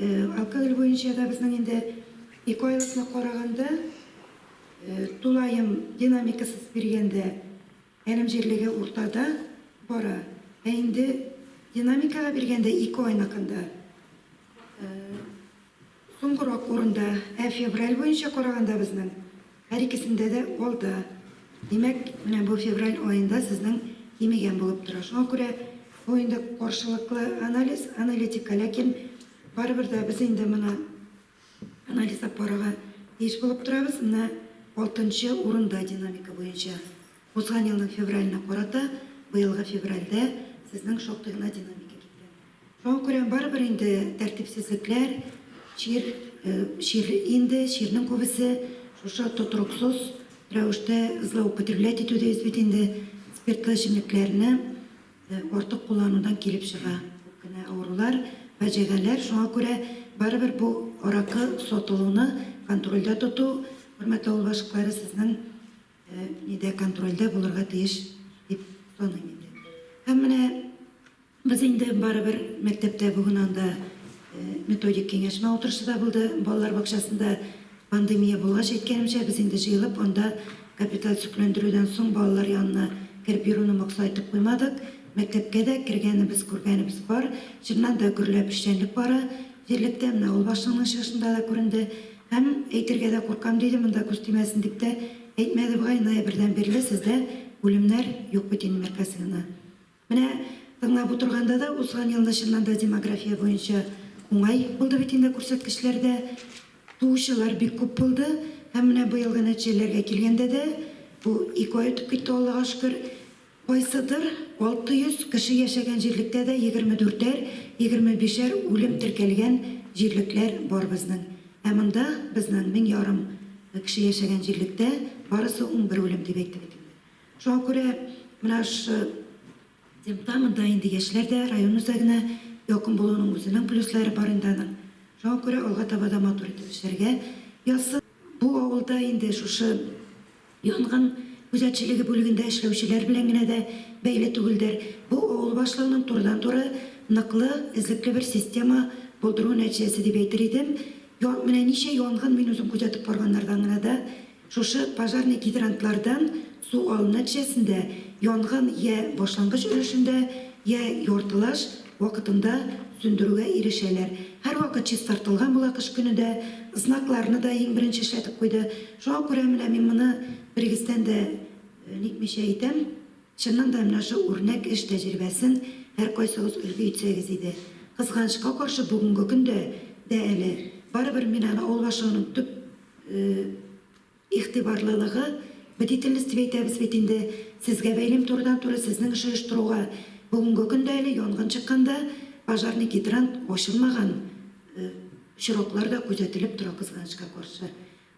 Алкоголь буенча да безнең инде ике айлыкны караганда, тулаем динамикасыз биргәндә әлем җирлеге уртада бара. Ә инде динамикага биргәндә ике айныкында Соңгырак урында, ә февраль буенча караганда безнең һәр икесендә дә алда. Димәк, менә бу февраль аенда сезнең кимегән булып тора. Шуңа күрә бу инде каршылыклы анализ, аналитика, ләкин барыбер дә без инде моны анализлап карарга тиеш булып торабыз. Менә алтынчы урында динамика буенча. Узган елның февраленә карата быелгы февральдә сезнең шактый гына динамика киткән. Шуңа күрә барыбер инде тәртипсезлекләр, чир, чир инде, чирнең күбесе шушы тотрыксыз рәвештә злоупотреблять итү дибез бит инде, спиртлы эчемлекләрне артык кулланудан килеп чыга. Күп кенә авырулар, фаҗигаләр. Шуңа күрә барыбер бу аракы сатылуны контрольдә тоту, хөрмәтле авыл башлыклары, сезнең нидә контрольдә булырга тиеш дип саныйм инде. Һәм менә Без инде барыбер мәктәптә бүген анда методик киңәшмә утырышы да булды. Балалар бакчасында пандемия булгач, әйткәнемчә, без инде җыелып анда капиталь төзекләндерүдән соң балалар янына кереп йөрүне максат итеп куймадык. Мәктәпкә дә кергәнебез, күргәнебез бар. Чыннан да гөрләп эшчәнлек бара җирлектә. Менә авыл башлыгының чыгышында да күренде. Һәм әйтергә дә куркам, диде, монда күз тимәсен дип тә әйтмәде бугай, ноябрьдән бирле сездә үлемнәр юк бит инде, мәкасыгына. Менә тыңлап утырганда да, узган елны чыннан да демография буенча уңай булды бит инде күрсәткечләр дә. Туучылар бик күп булды. Һәм менә быелгы нәтиҗәләргә килгәндә дә, бу ике ай үтеп китте, Аллага шөкер, кайсыдыр 600 кеше яшәгән җирлектә дә егерме дүртәр, егерме бишәр үлем теркәлгән җирлекләр бар безнең. Ә монда, безнең мең ярым кеше яшәгән җирлектә, барысы ун бер үлем дип әйтте бит инде. Шуңа күрә менә шушы темпта монда инде яшьләр дә, район үзәгенә якын булуның үзенең плюслары бар инде аның. Шуңа күрә алга таба да матур итеп эшләргә язсын. Бу авылда инде шушы янгын күзәтчелеге бүлегендә эшләүчеләр белән генә дә бәйле түгелдер. Бу авыл башлыгының турыдан-туры ныклы, эзлекле бер система булдыруы нәтиҗәсе дип әйтер идем. Менә ничә янгын мин үзем күзәтеп барганнардан гына да Шушы пожарный гидрантлардан су алу нәтиҗәсендә янгын йә башлангыч өлешендә, йә яртылаш вакытында сүндерүгә ирешәләр. Һәрвакыт чистартылган була, кыш көне дә знакларны да иң беренче эшләтеп куйды. Шуңа күрә менә мин моны берегездән дә никмичә әйтәм, чыннан да менә шул үрнәк эш тәҗрибәсен һәркайсыгыз өлге итсәгез иде. Кызганычка каршы, бүгенге көндә дә әле барыбер мин аны авыл башлыгының төп игътибарлылыгы, бдительность дип әйтәбез бит инде, сезгә бәйлим турыдан-туры сезнең эш оештыруга. Бүгенге көндә әле янгын чыкканда пожарный гидрант ачылмаган очраклар да күзәтелеп тора, кызганычка каршы.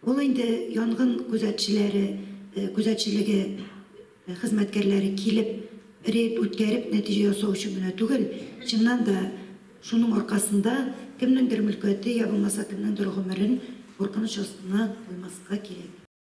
Ул инде янгын күзәтчеләре күзәтчелеге хезмәткәрләре килеп, рейд үткәреп, нәтиҗә ясау өчен генә түгел, чыннан да, шуның аркасында кемнеңдер мөлкәте, йә булмаса кемнеңдер гомерен куркыныч астына куймаска кирәк.